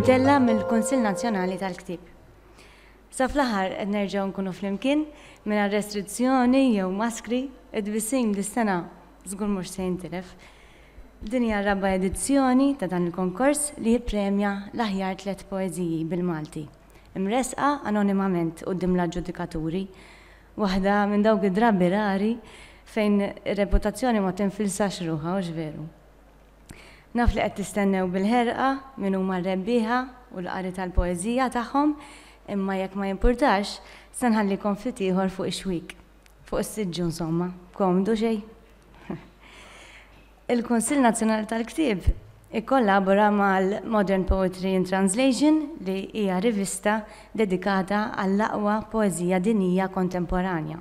Mtellgħa mill-Kunsill Nazzjonali tal-Ktieb. Sa fl-aħħar qed nerġgħu nkunu flimkien mingħajr restrizzjoni jew maskri, it-tbissim dis-sena żgur mhux se jintilef. Din hija r-raba' edizzjoni ta' dan il-konkors li jippremja l-aħjar tliet poeżiji bil-Malti. imressqa anonimament quddiem l-aġġudikaturi, waħda minn dawk id-drabi rari fejn ir-reputazzjoni ma tinfilsax ruħha, hux veru? Naf li qed tistennew bil-ħerqa min huma r-rebbieħa u l-qari tal-poeżija tagħhom, imma jekk ma jimpurtax, se nħallikom ftit ieħor fuq ix-xwiek, fuq is-siġġu insomma. Komdu xejn? Il-Kunsill Nazzjonali tal-Ktieb ikkollabora mal-Modern Poetry in Translation li hija rivista dedikata għall-aqwa poeżija dinjija kontemporanja.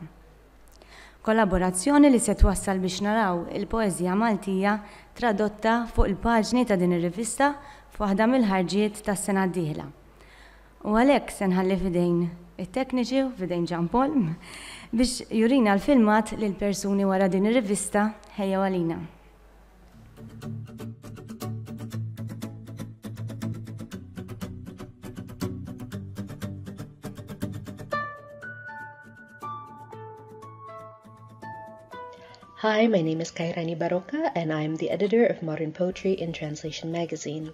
Kollaborazzjoni li se twassal biex naraw il-poeżija Maltija tradotta fuq il-paġni ta' din ir-rivista f'waħda mill-ħarġiet tas-sena d-dieħla. U għalhekk se nħalli f'idejn it-tekniċi u f'idejn Jean Paul biex jurina l-filmat li l-persuni wara din ir-rivista ħejjew għalina. Hi, my name is Kairani Baroka and I'm the editor of Modern Poetry in Translation magazine.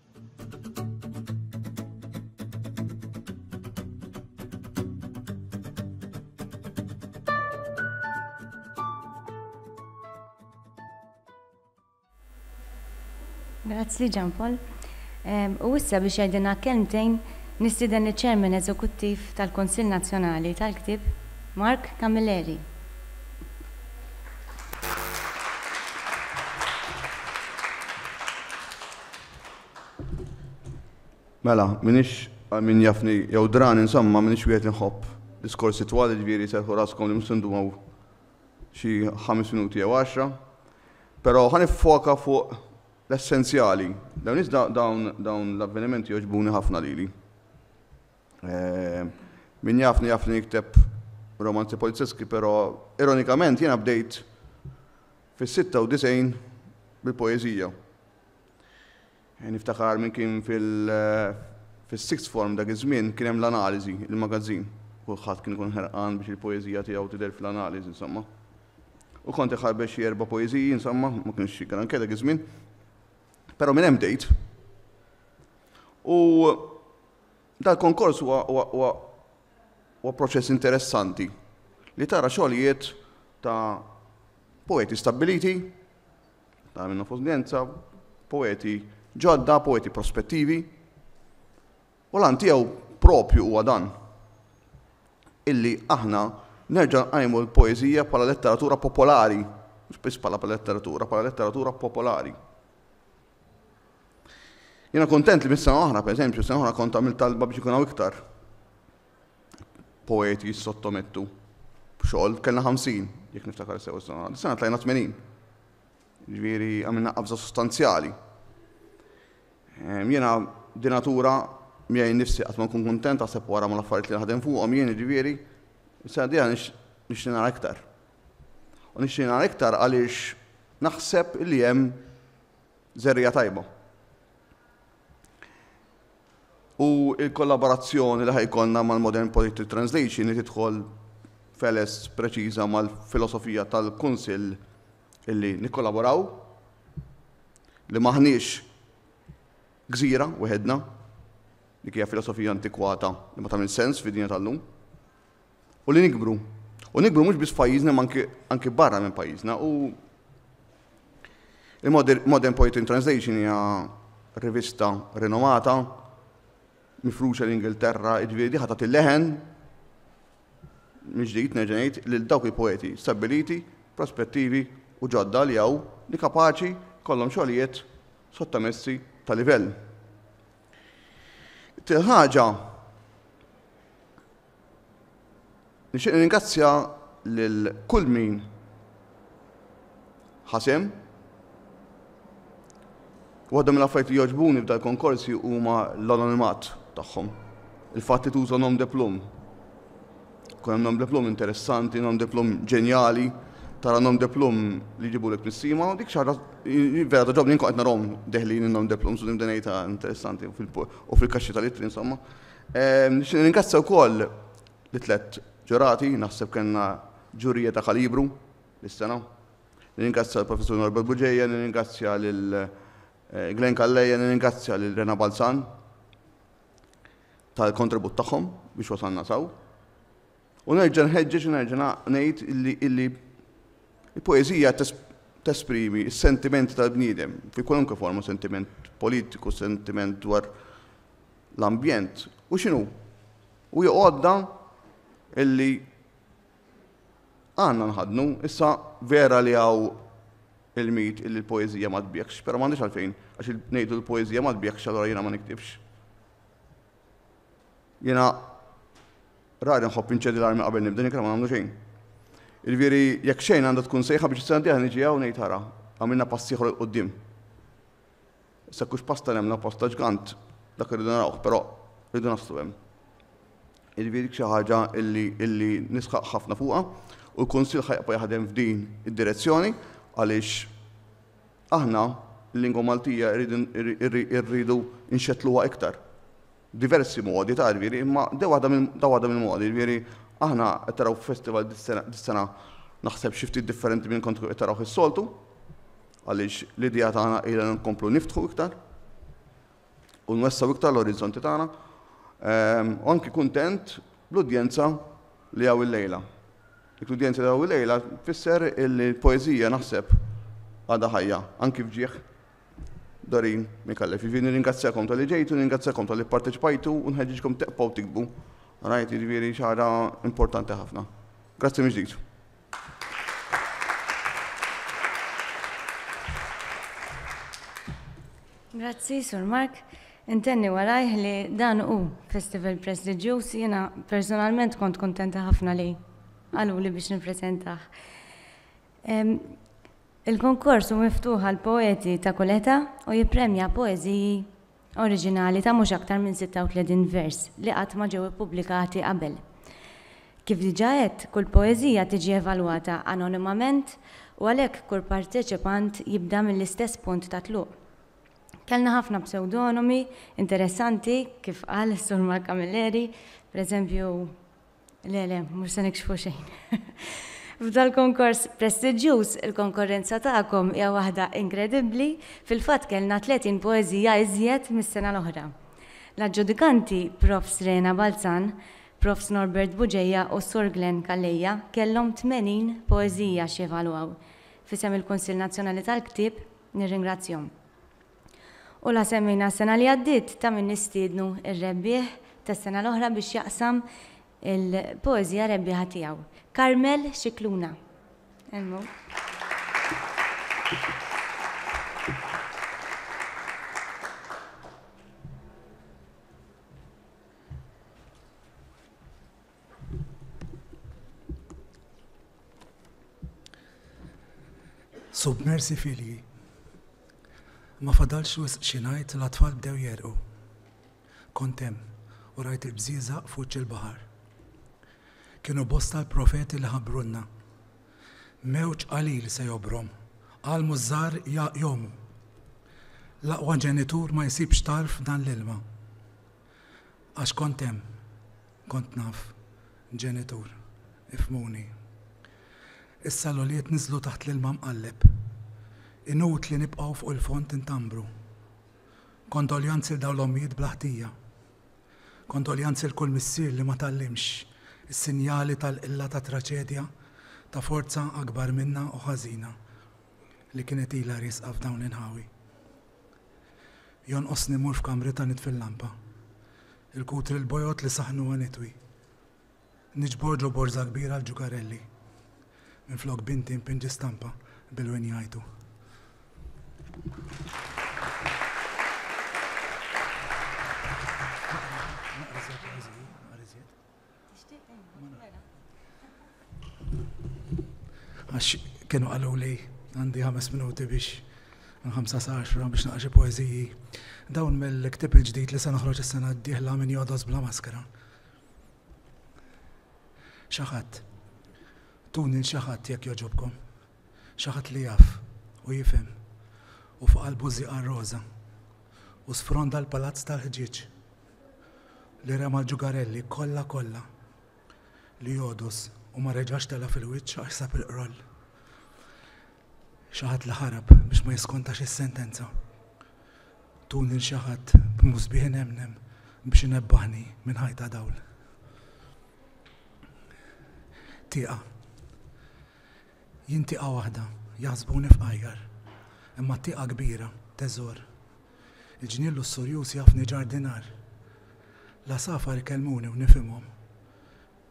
Grazzi Ġan Paul. U issa biex jgħidilna kelmtejn nistieden iċ-Chairman Eżekuttiv tal-Kunsill Nazzjonali tal-Ktieb, Mark Camilleri. Mela, minix min jafni jew dran insomma minix wieħed inħobb diskorsi twal ġifieri serħu raskom li mhux għaw xi ħames minuti jew għaxra. Però ħan foka fuq l-essenzjali. Dawn iżda dawn dawn l-avvenimenti joġbuni ħafna lili. Eh, min jafni jafni jikteb romanzi polizzeski, però ironikament jiena bdejt Fis-96 bil-poeżija. Niftakar minn kien fil-sixth form dak iż-żmien kien hemm l-analiżi, il-magazzin. Kulħadd kien ikun ħerqan biex il-poeżija tiegħu tidher fl-analiżi insomma. U kont iħarbet xi erba' poeżiji insomma, ma kienx xi granke dak iż-żmien. Però minn hemm bdejt. U Dal-konkors huwa proċess interessanti li tara xogħlijiet ta' poeti stabbiliti, ta' minn nofs udjenza, poeti ġodda, poeti prospettivi. U l-għan tiegħu proprju huwa dan, illi aħna nerġa' nqajmu l-poeżija bħala letteratura popolari, mhux biss bħala letteratura, bħala letteratura popolari. Jiena kuntent li mis-sena oħra, pereżempju, sena oħra kont għamil talba biex ikun hawn iktar poeti jissottomettu xogħol kellna 50, jekk niftakar sew is-sena. Sena tlajna 80. Ġifieri għamilna qabża sostanzjali. Jiena dinatura miegħi nifsi qatt ma nkun kuntent għaseb wara ma l-affarijiet li naħdem fuqhom jien ġifieri, sena diħa nix nara iktar. U nixtieq nara iktar għaliex naħseb li hemm żerriegħa tajba. U l-kollaborazzjoni li ħajkonna mal-Modern Political Translation li tidħol feles preċiża mal-filosofija tal-Kunsill illi nikkollaboraw li maħniex gżira weħedna, dik hija filosofija antikwata li ma tagħmel sens fid-dinja tal-lum. u li nikbru. U nikbru mhux biss pajjiżna ma anki barra minn pajjiżna u il-Modern Poetry Translation hija rivista rinomata mifruxa l-Ingilterra, ġifieri diħa tagħti leħen miġdijt neġenajt li l-dawk il-poeti stabiliti, prospettivi u ġodda li għaw li kapaċi kollom xogħlijiet sottomessi ta' livell. Til-ħaġa Nixtieq nirringrazzja lil kull min ħa sehem. Waħda mill-affarijiet li jogħġbuni f'dal-konkorsi huma l-anonimat tagħhom. Il-fatt li tuża nom de plum. Kun hemm nom de plum interessanti, nom de plum ġenjali, tara nom de plum li jġibulek nissima, dik xi ħaġa vera toġobni nkun qed narahom deħlin in-nom de plum, sudim denejta interessanti u fil-kaxxi tal-ittri insomma. Nixtieq nirringrazzja wkoll li tliet ġurati, naħseb kellna ġurija ta' kalibru is-sena. Nirringrazzja l-Professur Norbert Buġeja, nirringrazzja lil eh, Glenn Kalleja, nirringrazzja lil Rena Balzan tal-kontribut tagħhom biex wasalna saw. U nerġa' nħeġġeġ u nerġa' ngħid illi il-poeżija tesprimi s-sentimenti tal-bniedem, fi kwalunkwe forma, sentiment politiku, sentiment dwar l-ambjent, u x'inhu? U joqgħodda illi għandna nħadnu, issa vera li hawn il-mit illi l-poeżija ma tbiekx, però m'għandix għalfejn, għax ngħidu l-poeżija ma tbiekx allura jiena ma niktibx. Jiena rari nħobb inċedi l-armi qabel nibda nikra ma nagħmlu xejn. Il-viri, jekk xejn għandha tkun sejħa biex s-sena diħa niġi għaw nejt ħara, għamilna passiħor il-qoddim. Sekkux pasta nemna pasta ġgant, dak rridu narawħ, pero rridu naslu hemm. Il-viri xi ħaġa illi nisħaq ħafna fuqha u l-Kunsill ħajqpa jaħdem f'din id-direzzjoni għaliex Aħna, il-lingwa Maltija rridu nxettluha iktar. Diversi modi, tara, jiġifieri, imma di waħda minn, da waħda mill-modi, jiġifieri, aħna qed taraw festival dis-sena naħseb xi ftit differenti minn kont qed tarawh is-soltu, għaliex l-idea tagħna hi li nkomplu niftħu iktar. u nwessgħu iktar l-orizzonti tagħna, u anki kuntent bl-udjenza li hawn illejla. Dik l-udjenza li hawn illejla tfisser illi l-poeżija naħseb għadha ħajja, anki f'ġieħ Dorin Micallef. Jiġifieri nirringrazzjakom tal-li ġejtu, nirringrazzjakom tal-li pparteċipajtu u nħeġġiġkom teqbgħu tiktbu. Rajt jiġifieri xi ħaġa importanti ħafna. Grazzi mill-ġdid. Grazzi, Sur Mark. Intenni warajh li dan u festival prestiġjuż jiena personalment kont kontenta ħafna li għalu li biex nippreżentah. Il-konkors u miftuħa l-poeti ta' kuleta u jipremja poeziji oriġinali ta' mhux aktar minn 36 vers li qatt ma ġew ippubblikati qabel. Kif diġà għedt, kull poeżija tiġi evalwata anonimament u għalhekk kull parteċipant jibda mill-istess punt ta' tluq. Kellna ħafna psewdonomi interessanti, kif qal is-Sur Mark Camilleri, pereżempju, Le, le, mhux se nikxfu xejn. F'dal-konkors prestiġjuż, il-konkorrenza tagħkom hija waħda inkredibbli, fil-fatt kellna 30 poeżija iżjed mis-sena l-oħra. L-aġġudikanti, Profs. Reena Balzan, Profs. Norbert Buġeja u s-Sur Glenn Calleja kellhom 80 poeżija x'jevalwaw. F'isem il-Kunsill Nazzjonali tal-Ktieb, nirringrazzjahom. U la semmejna s-sena li għaddiet ta' min nistiednu r-rebbieħ tas-sena l-oħra biex jaqsam il-poeżija rebbieħa tiegħu, Carmel Scicluna. Submersi filji. Ma fadalx wisq xi ngħid l-atfal bdew jegħrqu. Kont hemm u rajt il-bżieżaq f'wiċċ il-baħar. Kienu bosta l-profeti li ħabbrulna. Mewġ qalil se jobrom, għallmu ż-żgħar jgħumu. L-aqwa ġenitur ma jsibx tarf f'dan l-ilma. Għax kont hemm. Kont naf ġenitur, ifhmuni. Issa l-ulied niżlu taħt l-ilma mqalleb. Inutli nibqgħu fuq il-fond intambru. Kondoljanzi 'l dawn l-ommijiet bla ħtija. Kondoljanzi 'l kull missier li ma tgħallimx is-sinjali tal-qilla ta' traċedja ta' forza akbar minna u ħażina li kienet ilha riesqa f'dawn l-inħawi. Jonqosni mmur f'kamrita nitfi l-lampa. Il-kutri l-bojod li saħnuha nitwi. Niġbor ġo borża kbira l-ġukarelli. Minflok binti npinġi stampa bil-win jgħajtu. Għax kienu għalu li għandi ħames minuti biex ħamsa sa għaxra biex naqra xi poeżiji. Dawn mill-ktib il-ġdid li se noħroġ is-sena d-dieħla minn jodos bla maskra. Xaħat, tuni l-xaħat jekk joġobkom. Xaħat li jaf u jifhem u fuq qalbu żiqa roża u sfronda l-palazz tal-ħġieġ li rema l-ġugarelli kollha kollha li jogħdos u ma reġax tela' fil-wiċċ għax sab il-qroll. Xi ħadd li ħarab biex ma jiskontax is-sentenza. Tun lil xi ħadd b'musbieħ inemnem biex inebbaħni minn ħajta dawl. Tieqa. Jien tieqa waħda, jaħsbuni f'qajjar, imma tieqa kbira, teżor, Il-ġnien lussurjuż jafni ġardinar. L-għasafar ikellmuni u nifhimhom.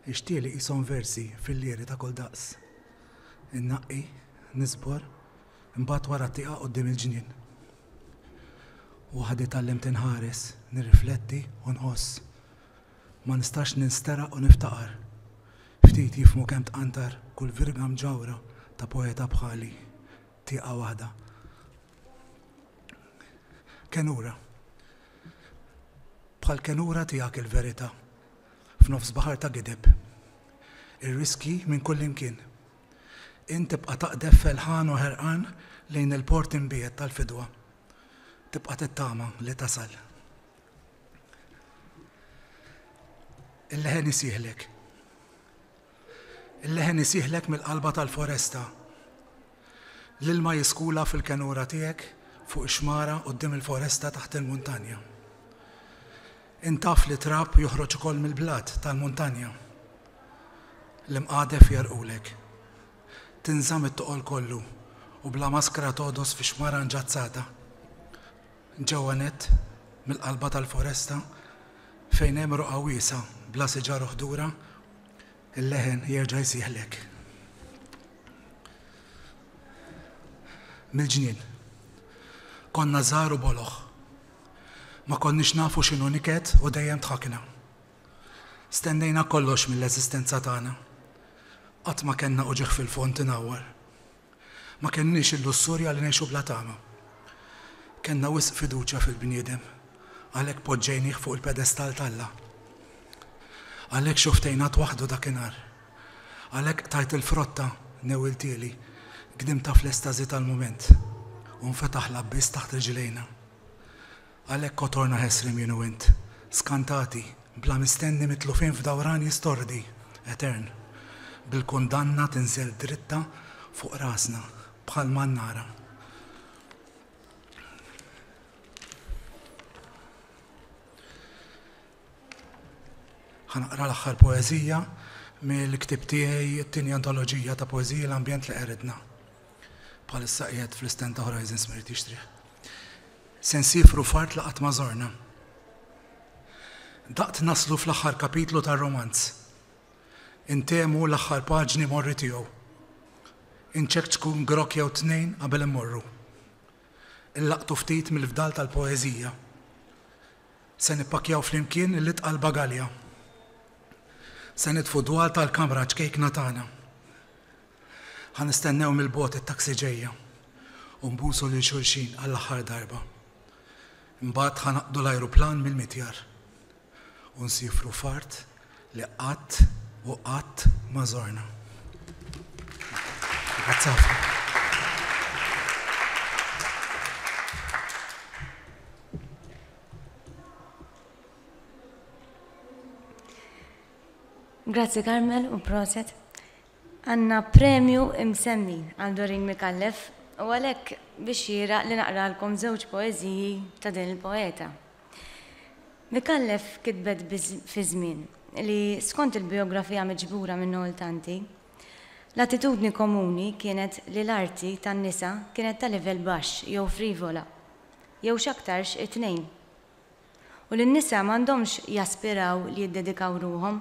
Ix-xtieli qishom versi fil-liri ta' kull daqs. Innaqqi, niżbor, imbagħad wara t-tieqa quddiem il-ġnien. Waħdi tgħallimt inħares, nirrifletti u nħoss. Ma nistax ninsteraq u niftaqar. Ftit jifhmu kemm tqantar kull virga mġawra ta' poeta bħali. Tieqa waħda. Kenura. Bħal kenura tiegħek il-verità f'nofs baħar ta' gideb. Ir-riskji minn kullimkien. Int tibqa' taqdef felħan u ħerqan lejn il-port imbiet tal-fidwa. Tibqa' tittama li tasal. Il-leħen isieħlek. Il-leħen isieħlek mill-qalba tal-foresta. L-ilma jiskula fil-kenura tiegħek fuq ix-xmara quddiem il-foresta taħt il-muntanja. Int taf li t-trab joħroġ ukoll mill-blat tal-muntanja. L-imqadef jegħrqulek. Tinżamm it-toqol kollu u bla maskra togħdos fix-xmara nġazzata. Ġewwa nett, mill-qalba tal-foresta, fejn hemm roqgħa wiesgħa bla siġar u ħdura, Il-leħen jerġa' jsieħlek. Mill-ġnien. Konna żgħar u boloh. Ma konniex nafu x'inhu niket u dejjem dħakna. Stennejna kollox mill-eżistenza tagħna. Qatt ma kellna uġigħ fil-fond inawwar. Ma kenniex il-lussurja li ngħixu bla tama. Kellna wisq fiduċja fil-bniedem, għalhekk poġġejnih fuq il-pedestall t'Alla. Għalhekk xuftejnat waħdu dakinhar. Għalhekk qtajt il-frotta, newwiltieli, gdimtha fl-estażi tal-mument, u nfetaħ l-abbiss taħt riġlejna. Għalhekk o torna ħesriem jien u int, skantati, bla mistenni mitlufin f'dawran jistordi, etern, bil-kundanna tinżel dritta fuq rasna bħal mannara. Ħa naqra l-aħħar poeżija mill-ktieb tiegħi, it-tieni antoloġija ta' poeżiji L-Ambjent li Qeridna. Bħalissa qiegħed fl-istand ta' Horizons ma jrid jixtrih. Se nsiefru f'art li qatt ma żorna. Daqt naslu fl-aħħar kapitlu tar-romanz. Intemu l-aħħar paġni morri tiegħu. Inċekċku grok jew tnejn qabel immorru. Illaqtu ftit mill-fdal tal-poeżija. Se nippakjaw flimkien l-itqal bagalja. Se nitfu dwal tal-kamra ċkejkna tagħna. Ħa nistennew mill-bogħod it-taxi ġejja u nbusu lil xulxin għall-aħħar darba. Imbagħad ħa naqdu l-ajruplan mill-mitjar u nsiefru f'art li qatt u qatt ma żorna. Grazzi ħafna. Grazzi Carmel u proset. Għandna premju imsemmi għal Doreen Micallef u għalhekk bi xieraq li naqralkom żewġ poeżiji ta' din il-poeta. Micallef kitbet fi żmien li, skont il-bijografija miġbura minn Noel Tanti, l-attitudni komuni kienet li l-arti tan-nisa kienet ta' livell baxx jew frivola, jew x'aktarx it-tnejn. u li n-nisa m'għandhomx jaspiraw li jiddedikaw ruħhom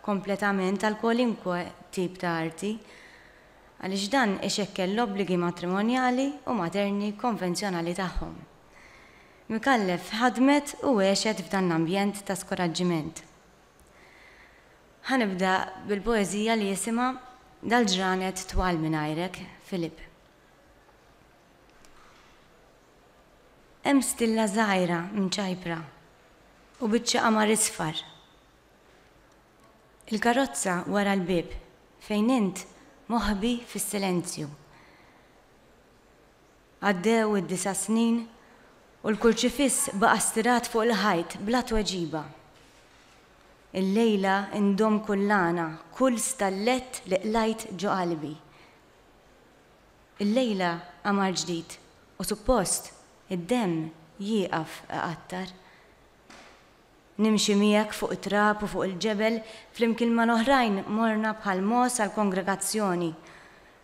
kompletament għal kwalunkwe tip ta' arti, għaliex dan ixekkel l-obbligi matrimonjali u materni konvenzjonali tagħhom. Micallef ħadmet u għexet f'dan l-ambjent ta' skoraġġiment. Ħa nibda bil-poeżija li jisimha Dal-ġranet twal mingħajrek, Philip. Hemm stilla żgħira mċajpra u biċċa qamar isfar. Il-karozza wara l-bieb fejn int moħbi fis-silenzju. Għaddew id-disa' snin u l-kurċifiss baqa' stirat fuq il-ħajt bla tweġiba. Illejla ndomm kull għana, kull stallett li qlajt ġo qalbi. Illejla qamar ġdid u suppost id-demm jieqaf iqattar. Nimxi miegħek fuq it-trab u fuq il-ġebel, flimkien mal-oħrajn morna bħal mogħoż għall-kongregazzjoni.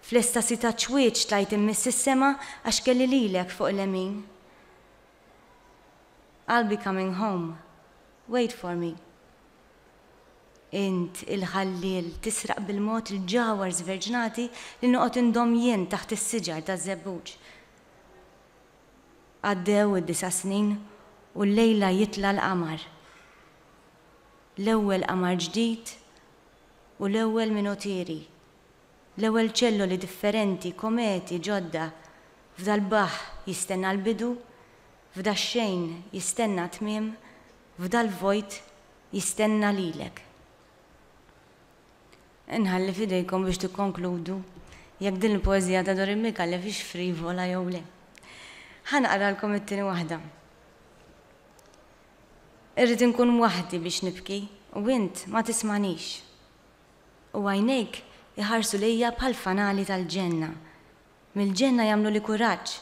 Fl-estasi taċ-ċwieċ tlajt immiss s-sema għax kelli lilek fuq il-lemin. I'll be coming home, wait for me. Int, il-ħalliel, tisraq bil-mod il-ġawhar żverġnati li noqgħod indomm jien taħt is-siġar taż-żebbuġ. Għaddew id-disa' snin u llejla jitla' l-qamar. L-ewwel qamar ġdid u l-ewwel minotieri. L-ewwel ċelloli differenti, kometi ġodda. F'dal-baħħ jistenna l-bidu, f'dax-xejn jistenna t-tmiem F'dal-vojt jistenna lilek. Inħalli f'idejkom biex tikkonkludu jekk din il-poeżija ta' Dorin Micallef hix frivola jew le. Ħa naqralkom it-tieni waħda. Irrid inkun waħdi biex nibki u int ma tismagħnix. U għajnejk iħarsu lejja bħall-fanali tal-ġenna Mill-ġenna jagħmluli kuraġġ.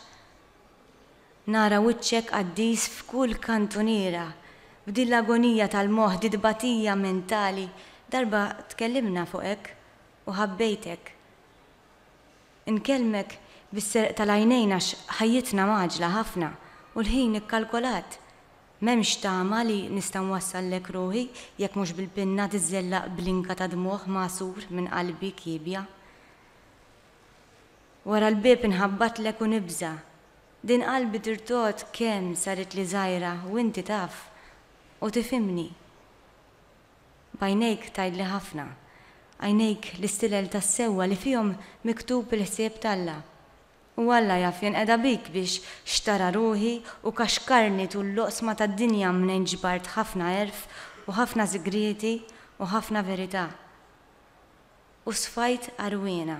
Nara wiċċek qaddis f'kull kantuniera. F'din l-agonija tal-moħħ, di tbatija mentali, darba tkellimna fuqek u ħabbejtek. Inkellmek bis-serq tal-għajnejn għax ħajjitna mgħaġġla ħafna u l-ħin ikkalkolat. M'hemmx tama li nista' nwassallek ruħi jekk mhux bil-pinna tiżżellaq blinka ta' dmugħ magħsur minn qalbi kiebja. Wara l-bieb inħabbatlek u nibża'. Din qalbi tirtogħod kemm saritli żgħira u inti taf u tifhimni. B'għajnejk tgħidli ħafna. Għajnejk l-istilel tas-sewwa li fihom miktub il-ħsieb t'Alla. U Alla jaf jenqeda bik biex xtara ruħi u kaxkarni tul l-oqsma tad-dinja mnejn ġbart ħafna għerf u ħafna sigrieti u ħafna verità. u sfajt għarwiena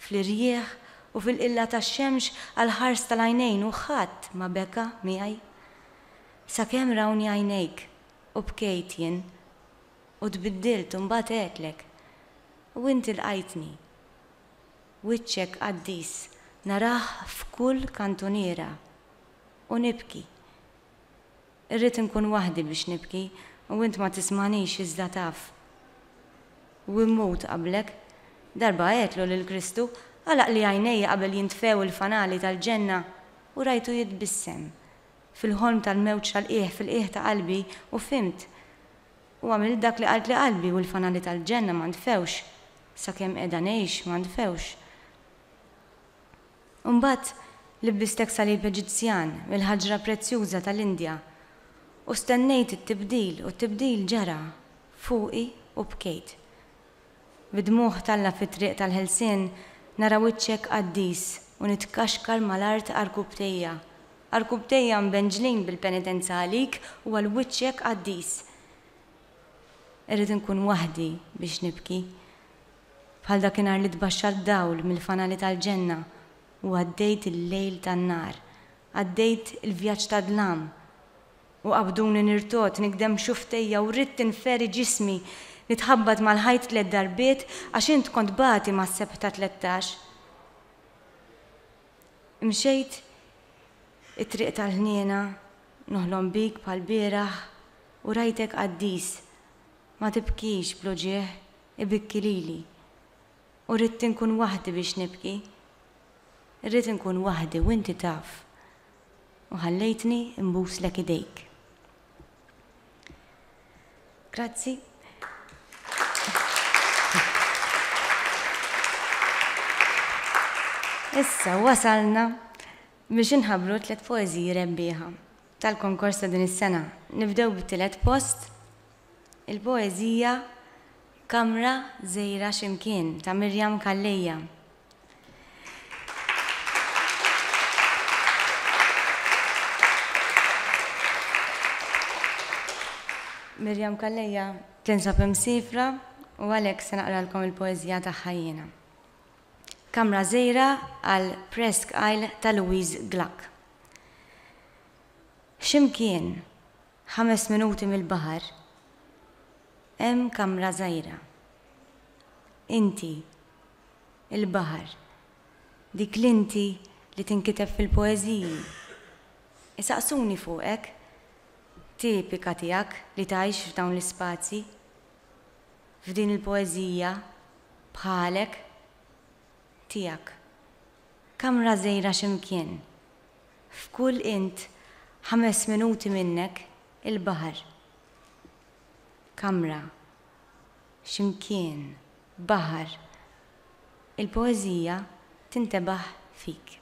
fl-irjieħ u fil-qilla tax-xemx għall-ħars tal-għajnejn u ħadd ma beka miegħi. Sakemm rawni għajnejk u bkejt jien u tbiddilt u mbagħad għedtlek u inti lqajtni. Wiċċek qaddis narah f'kull kantuniera u nibki Irrid inkun waħdi biex nibki u int ma tismagħnix iżda taf. U immut qablek. Darba għedtlu lil Kristu, Għalaqli għajnejja qabel jintfew il-fanali tal-ġenna u rajtu jitbissem. Fil-ħolm tal-mewġ tal-qiegħ fil-qiegħ ta' qalbi u fhimt. U għamilt dak li qaltli qalbi u l-fanali tal-ġenna ma ntfewx. Sakemm qiegħda ngħix ma ntfewx. Imbagħad libbistek salib Eġizzjan mill-ħaġra prezzjuża tal-Indja, u stennejt it-tibdil, u t-tibdil ġara fuqi u bkejt. Bid-dmugħ t'Alla fit-triq tal-ħelsien nara wiċċek qaddis u nitkaxkar mal-art għarkubbtejja, għarkubbtejja mbenġlin bil-penitenza għalik u għal wiċċek qaddis. Irrid inkun waħdi biex nibki. Bħal dakinhar li tbaxxar d-dawl mill-fanali tal-ġenna u għaddejt il-lejl tan-nar, għaddejt il-vjaġġ tad-dlam, u qabduni nirtogħod, nigdem xufftejja u ridt inferi ġismi, nitħabbat mal-ħajt tliet darbiet għax int kont bagħti mas-sebħta tlettax. Imxejt it-triq tal-ħniena, noħlom bik bħall-bieraħ u rajtek qaddis, ma tibkix bl-uġigħ, Ibikki lili. U rridt inkun waħdi biex nibki. Irrid inkun waħdi u inti taf. U ħallejtni nbuslek idejk. Grazzi. Issa wasalna biex inħabbru tliet poeżiji rebbieħa tal-konkors ta' din is-sena. Nibdew bit-tielet post. Il-poeżija Kamra żgħira xi mkien ta' Miriam Calleja. Miriam Calleja tinsab imsifra u għalhekk se naqralkom il-poeżija tagħha jiena. Kamra żgħira għal Presque Isle ta' Louise Gluck. X'imkien Ħames minuti mill-baħar hemm kamra żgħira. Inti, il-baħar, dik l-inti li tinkiteb fil-poeżiji. Isaqsuni fuqek, tipika tiegħek li tgħix f'dawn l-ispazji, f'din il-poeżija, bħalek, tiegħek. Kamra żgħira x'imkien. f'kull int ħames minuti minnek il-baħar. Kamra, x'imkien, baħar, il-poeżija tintebaħ fik.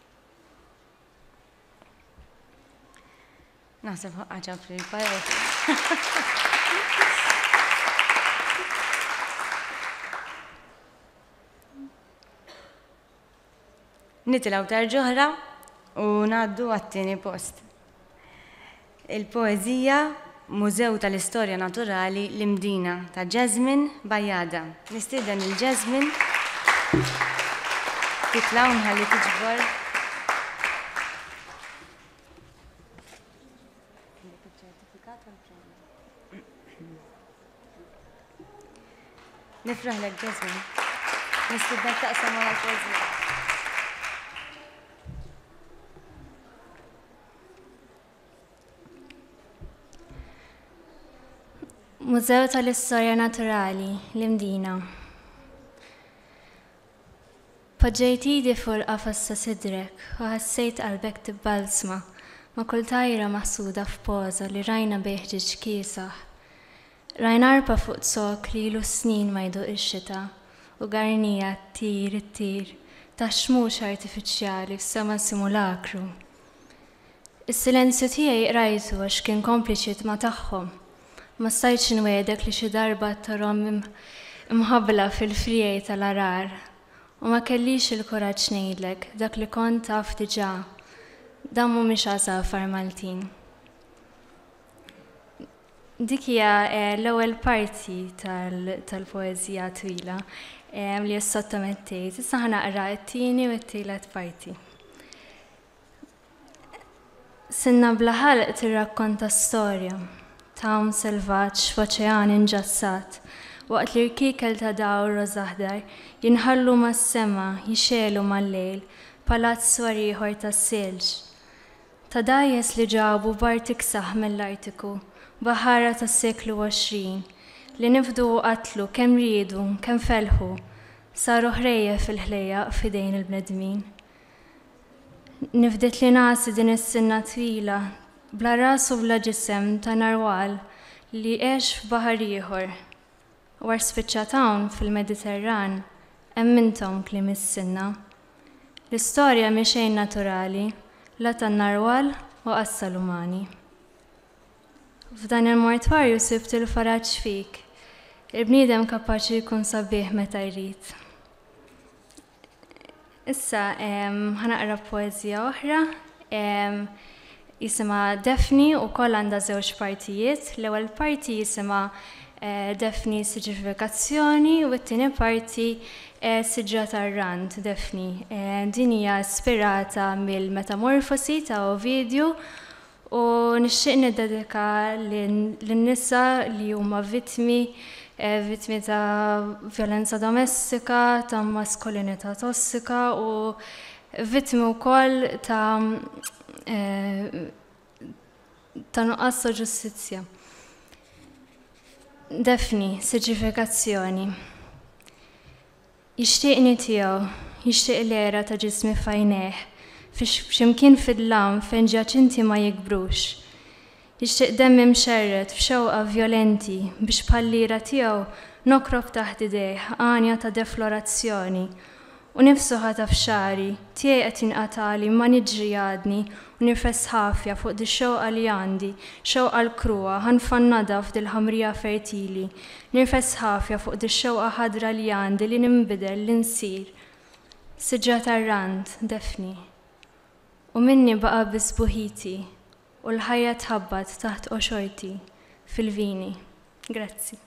Naħseb ħaqqa ġabri l-pajot. Nitilgħu darġ'oħra u ngħaddu għat-tieni post. Il-poeżija Mużew tal-Istorja Naturali L-Imdina ta' Jasmine Bajada. Nistieden lil Jasmine titla' u nħalli tiġbor Nifraħlek Jasmine. Nistidnek taqsam għal pożi. Mużew tal-Istorja Naturali, l-Imdina. Poġġejt idi fuq il-qafas ta' sidrek u ħassejt qalbek tibbalzma ma' kull tajra maħsuda f'poża li rajna bejn ħġieġ kiesaħ. Rajna għarpa fuq zokk li ilu snin ma jduq ix-xita u garnija ttir, ittir taħt xmux artifiċjali f'sema simulakru. Is-silenzju tiegħi qrajtu għax kien kompliċi tma' tagħhom. Ma stajtx inwiegħdek li xi darba ttorhom imħabbla fil-friegħi tal-għarar. U ma kellix il-kuraġġ ngħidlek dak li kont taf diġà, dawn mhumiex għasafar Maltin. Dik hija l-ewwel parti tal-poeżija twila li ssottomettejt. Issa ħa naqra t-tieni u t-tielet parti. Sinna bla ħalq tirrakkonta storja t'għawm selvaġġ f'oċean inġassat, waqt li rkiekel ta' dawl rożaħdar jinħallu mas-sema jixegħlu mal-lejl palazz swar ieħor tas-silġ. Ta' dgħajjes li ġabu b'art iksaħ mill-Artiku, baħara tas-seklu għoxrin, li nifdu u qatlu kemm riedu, kemm felħu, saru ħrejjef fil-ħlejjaq f'idejn il-bnedmin. Nifdet li ngħassi din is-sinna twila, bla ras u bla ġisem ta' narwal li għex f'baħar ieħor. War spiċċat hawn fil-Mediterran, hemm intom kliem is-sinna. L-istorja mhi xejn naturali, la tan-narwal u qas tal-umani. F'dan il-mortwarju sibt il-faraġ fik, il-bniedem kapaċi jkun sabiħ meta jrid. Issa ħanaqra poeżija oħra jisimha Daphne wkoll għandha żewġ partijiet. L-ewwel parti jisimha Daphne Siġifikazzjoni u t-tieni parti Siġra tar-Rand Daphne. Din hija ispirata mill-Metamorfosi ta' Ovidju u nixtieq niddedika lin-nisa li huma vittmi, vittmi ta' vjolenza domestika, ta' maskulinità tossika u vittmi wkoll ta' ta' nuqqas ta' ġustizzja. Daphne, Siġifikazzjoni. Jixtieqni tiegħu, jixtieq l-għera ta' ġismi f'għajnejh, f'x'imkien fid-dlam fejn ġjaċinti ma jikbrux. Jixtieq demmi mxerred f'xewqa vjolenti biex bħall-ira tiegħu nokrob taħt idejh għanja ta' deflorazzjoni u nifsu ħataf xagħri, tiegħi qed jinqatagħli ma niġri għadni u nirfes ħafja fuq dix-xewqa li għandi, xewqa l-kruha, ħa nfannadha f'dil-ħamrija fertili Nirfes ħafja fuq dix-xewqa ħadra li għandi li ninbidel, li nsir siġra tar-rand, Daphne. U minni baqa' biss sbuħiti u l-ħajja tħabbat taħt qoxorti fil-vini. Grazzi.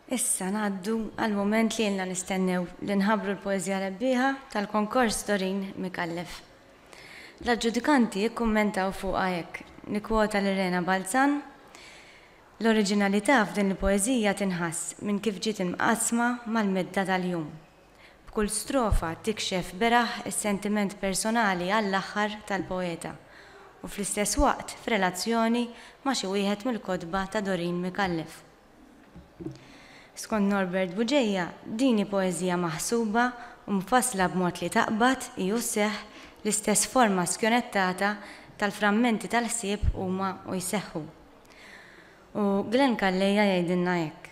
Issa ngħaddu għall-mument li ilna nistennew, li nħabbru l-poeżija rebbieħa tal-konkors Doreen Micallef. L-aġġudikanti ikkummentaw fuqha hekk, nikkwota lil Rena Balzan, L-oriġinalità f'din il-poeżija tinħass minn kif ġiet imqassma mal-medda tal-jum. B'kull strofa tikxef beraħ is-sentiment personali għall-aħħar tal-poeta u fl-istess waqt f'relazzjoni ma' xi wieħed mill-kotba ta' Doreen Micallef. Skont Norbert Bugeja, din hi poeżija maħsuba u mfassla b'mod li taqbad, hi u sseħħ, l-istess forma skjonettata tal-frammenti tal-ħsieb huma u jseħħu. U Glenn Calleja jgħidilna hekk,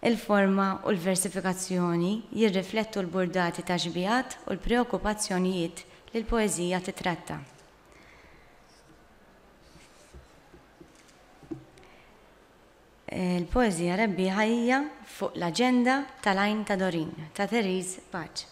Il-forma u l-versifikazzjoni jirriflettu l-burdati taxbihat u l-preokkupazzjonijiet li l-poeżija tittratta. Il-poeżija rebbieħa hija Fuq l-aġenda tal-għajn ta' Dorin ta' Therese Pace.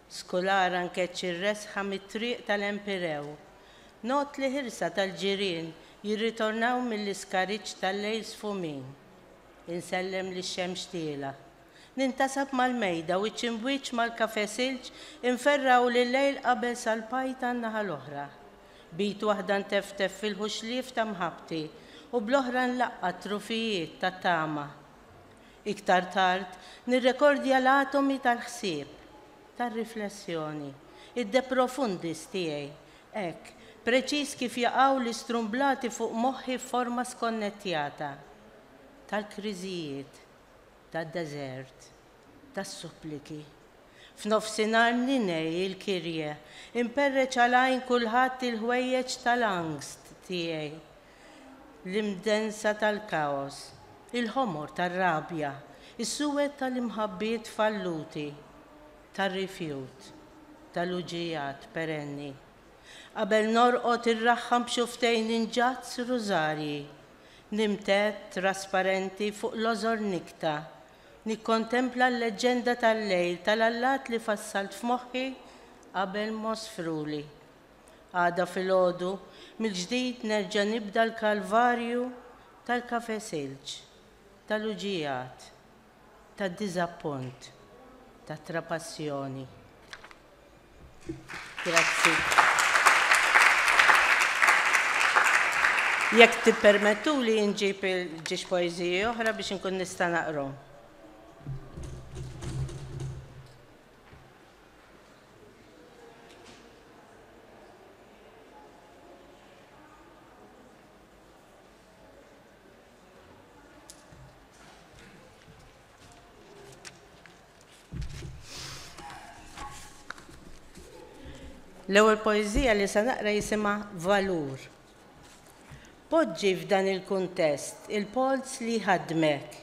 Skulara nkeċċ ir-resħa mit-triq tal-Empirew. Ngħodd li ħirsa tal-ġirien jirritornaw mill-iskariġġ tal-lejl sfumin. Insellem lix-xemx tiela'. Nintasab mal-mejda wiċċ imb'wiċċ mal-kafè silġ imferra u l-lejl qabeż għall-pajta n-naħa l-oħra. B'id waħda nteftef fil-ħuxlief ta' mħabbti u bl-oħra nlaqqa' t-trufijiet tat-tama. Iktar tard, nirrekordja l-atomi tal-ħsieb, tar-riflessjoni, id-de profundis tiegħi, hekk, preċiż kif jaqgħu l-istrumblati fuq moħħi f'forma skonnettjata, tal-kriżijiet, tad-deżert, tas-suppliki. F'nofsinhar ninegħi il-Kyrie, imperreċ għal għajn kulħadd il-ħwejjeġ tal-angst tiegħi, l-imdensa tal-kaos, il-ħomor tar-rabja, is-suwed tal-imħabbiet falluti, tar-rifjut, tal-uġiegħat perenni. Qabel norqod irraħħam b'xufftejn inġazz rużarji, nimtedd trasparenti fuq lożor nikta, nikkontempla l-leġġenda tal-lejl tal-allat li fassalt f'moħħi qabel mosfruli. Għada filgħodu mill-ġdid nerġa' nibda l-kalvarju tal-Cafè Silġ, tal-uġigħat, tad-diżappunt, tat-trapassjoni. Grazzi. Jekk tippermettuli inġib il-ġiex poeżiji oħra biex inkun nista' naqrom. L-ewwel poeżija li se naqra jisimha Valur. Poġġi f'dan il-kuntest il-polz li ħadmek.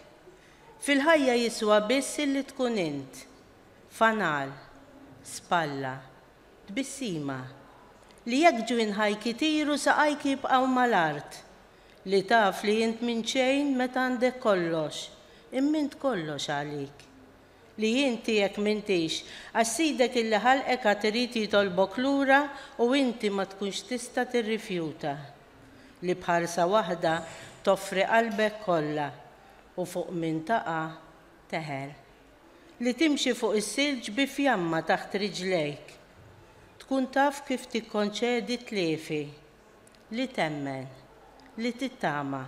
Fil-ħajja jiswa biss illi tkun int. fanal, spalla, tbissima, li jekk ġwinħajk itiru saqajk jibqgħu mal-art, li taf li int minn xejn meta għandek kollox, imma int kollox għalik, li int tiegħek m'intix għax Sidek illi ħalqek għad irid jitolbok lura u inti ma tkunx tista' tirrifjuta, li b'ħarsa waħda toffri qalbek kollha u fuq min taqa' teħel. Li timxi fuq is-silġ bi fjamma taħt riġlejk. Tkun taf kif tikkonċedi t-tliefi. Li temmen. Li tittama.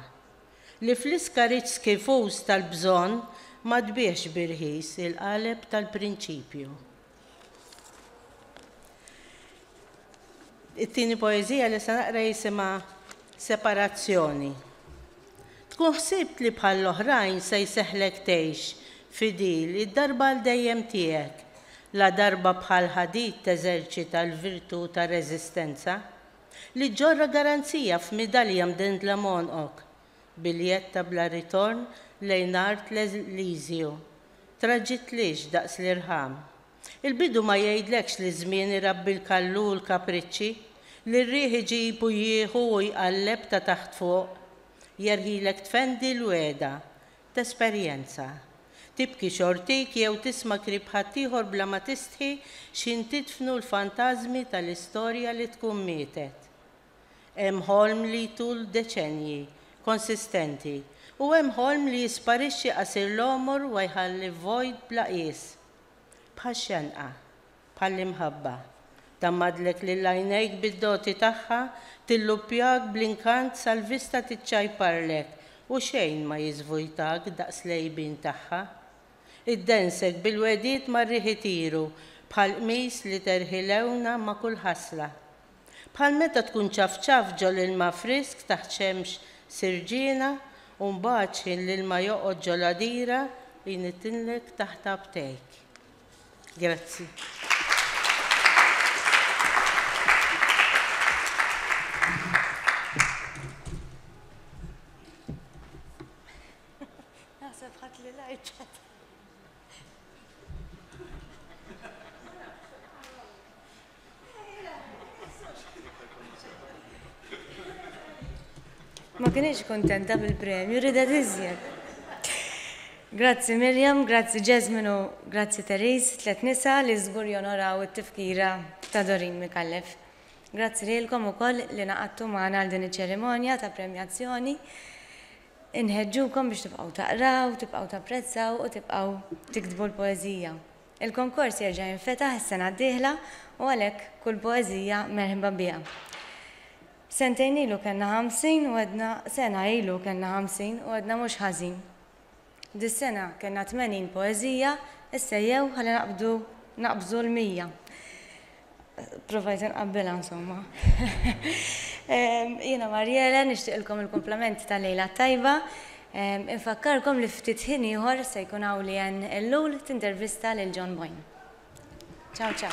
Li fl-iskariġġ skifuż tal-bżonn ma tbiegħx bi rħis il-qaleb tal-prinċipju. It-tieni poeżija li se naqra jisimha Separazzjoni. Tkun ħsibt li bħall-oħrajn se jseħħlek tgħix fidil id-darba għal dejjem tiegħek, la darba bħal ħadid teżerċita l-virtù tar-reżistenza, li ġġorr garanzija f'midalja mdendla m'għonqok, Biljett ta' bla ritorn lejn art l-eżilju. Traġitlix daqs l-irħam. Il-bidu ma jgħidlekx li ż-żmien irabbi l-kallu u l-kapriċċi, li r-riħ iġib u jieħu u jqalleb ta' taħt fuq. Jerħilek tfendi l-wegħda. Tesperjenza. Tibki xortik jew tisma' krib ħaddieħor bla ma tistħi x'jintidfnu l-fantażmi tal-istorja li tkun mietet. Hemm ħolm li jtul deċennji, konsistenti, u hemm ħolm li jisparixxi qasir l-għomor wa jħalli vojt bla qies. Bħax-xenqa. Bħall-imħabba. Tgħammadlek lil għajnejk bid-doti tagħha, tilluppjak bl-inkant sal-vista tiċċajparlek u xejn ma jiżvojtak daqs l-għejbien tagħha. Iddensek bil-wegħdiet mar-riħ itiru bħall-qmis li terħi lewna ma' kull ħasla. Bħal meta tkun ċafċaft ġol ilma frisk taħt xemx sirġiena u mbagħad x'ħin l-ilma joqgħod ġol għadira u jnittinlek taħt abtejk. Grazzi. Ma kienx kuntenta bil-premju, ridet iżjed. Grazzi Mirjam, grazzi Jasmine u grazzi Therese, tliet nisa li żgur jonoraw it-tifkira ta' Doreen Micallef. Grazzi lilkom ukoll li naqadtu magħna għal din iċ-ċerimonja ta' premjazzjoni. Inħeġġukom biex tibqgħu taqraw, tibqgħu tapprezzaw u tibqgħu tiktbu l-poeżija. Il-konkors jerġa' jinfetaħ is-sena d-dieħla u għalhekk kull poeżija merħba biha. Sentejn ilu kellna ħamsin u għedna sena ilu kellna ħamsin u għedna mhux ħażin. Dis-sena kellna tmenin poeżija, issejjew ħalli naqbdu naqbżu l-mija. Provajt inqabbilha insomma. Jiena Marjela nixtieqilkom il-kumplament tal-lejla t-tajba. Infakkarkom li ftit ħin ieħor se jkun hawn Leanne Ellul tintervista lil John Boyne. Ciao ciao.